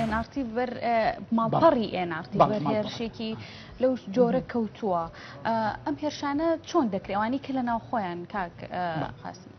ئێنارتی بەر ماڵپەڕی ئێنارتی بەر هێرشێکی لەو جۆرە کەوتووە ئەم هێرشانە چۆن دەکرێوانی کە لە ناوخۆیان کاک قاسم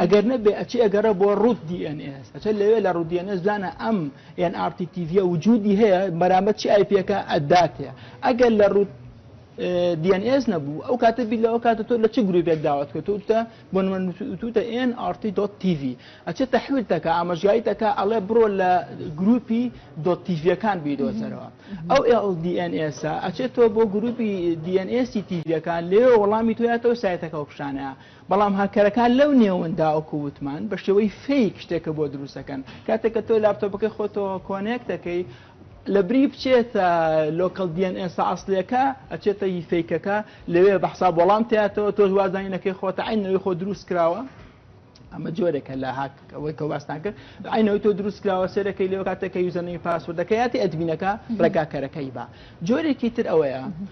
ئەگەر نەبێ ئەچێ ئەگەرە بۆ ڕوت DNS ئەچە لەوێ لە ڕوت DNS زانە ئەم یان RTTV وجودی هەیە بەرامبەر چی ئایپەکە ئەدات هەیە ئەگەر لە ڕوت DNS نەبوو ئەو کاتە بی لەەوە کاتە تۆ لە چ گروپێک داوات کە توتە بۆ توتە NRT.TV ئەچێ تەحویل تەکە ئاماژگاری تەکە ئەڵێ بڕۆ لە گروپی دۆتیڤەکان بیدۆزەرەوە ئەو LDNS ئەچێت تۆ بۆ گروپی DNS تیڤەکان لێ وەڵامی تویاتەوە سایتەکە و پیشانەیە بەڵام هاککەرەکان لەو نێوەندا وەکو وتمان بە شێوەی فەیک شتێکە بۆ دروست دەکەن کاتێک کە تۆ لاپتۆپەکەی خۆتەوە کۆنێک دەکەی لە بری بچێتە لۆکەڵ دیێن ئێسا ئەاصلەکە ئەچێتە هی فیکەکە لەوێ بە حساب وەڵام تاتەوە تۆش وازانینەکەی خۆتە عینەوەی خۆ دروست کراوە ئەمە جۆرێکە لە هاک ئەوەی کە واستان کرد عینەوەی تۆ دروست کراوە سێرەکەی لەوە کاتێکە یوزەنەی پاسوردەکە یاتی ئەدمینەکە ڕێگاکەرەکەی بە جۆرێکی تر ئەوەیە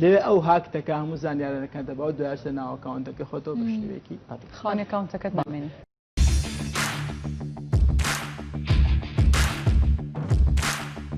لەوێ ئەو هاکتەکە هەموو زانیارەکان دەبا و دوای ئەچتە ناو ئەکاونتەکەی خۆتەوە بە شێوەیەکی ئەتڵ. خاوەن ئەکاونتەکەت نامێنی.